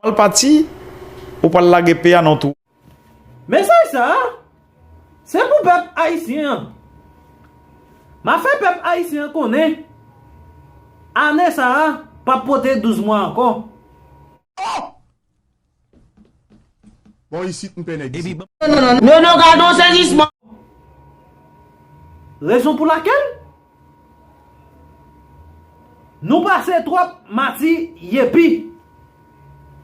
Ou mal pati, ou pral lage pey a nan twou. Mesaj sa a, se pou pèp ayisyen an. M ap fè pèp ayisyen an konnen, ane sa a p ap pote 12 mwa ankò. Oh! Bò isit m pè nèg isit. Nono gadon sezisman! Rezon pou lakèl? Nou pase twòp mati yepi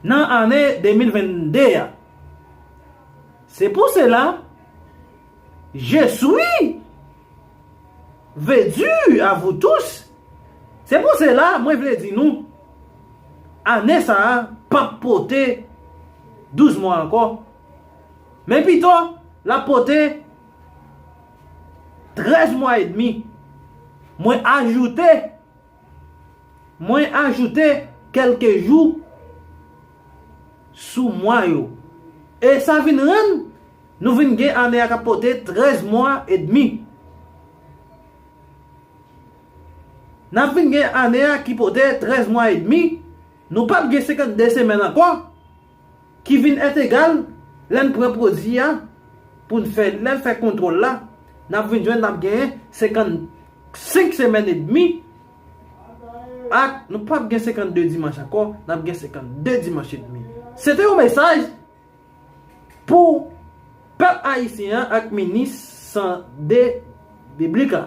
nan ane 2022 a. Se pou sela je swi ve di a vou tous, se pou sela mwen vle di nou ane sa a pap pote 12 mwa ankò men pito l ap pote 13 mwa e demi. Mwen ajoute, mwen ajoute kelke jou sou mwa yo. E sa vin rann, nou vin gen ane a k ap pote 13 mwa e demi. N ap vin gen ane a ki pote 13 mwa e demi, nou p ap gen 52 semèn ankò. Ki vin entegal, lè n pran pwodui a, pou n fè, lè n fè kontwòl la, n ap vin jwenn n ap gen 55 semèn edmi, ak nou p ap gen 52 dimanch ankò, n ap gen 52 dimanch edmi. Se te yon mesaj pou pèp ayisyen an ak minis sante piblik la.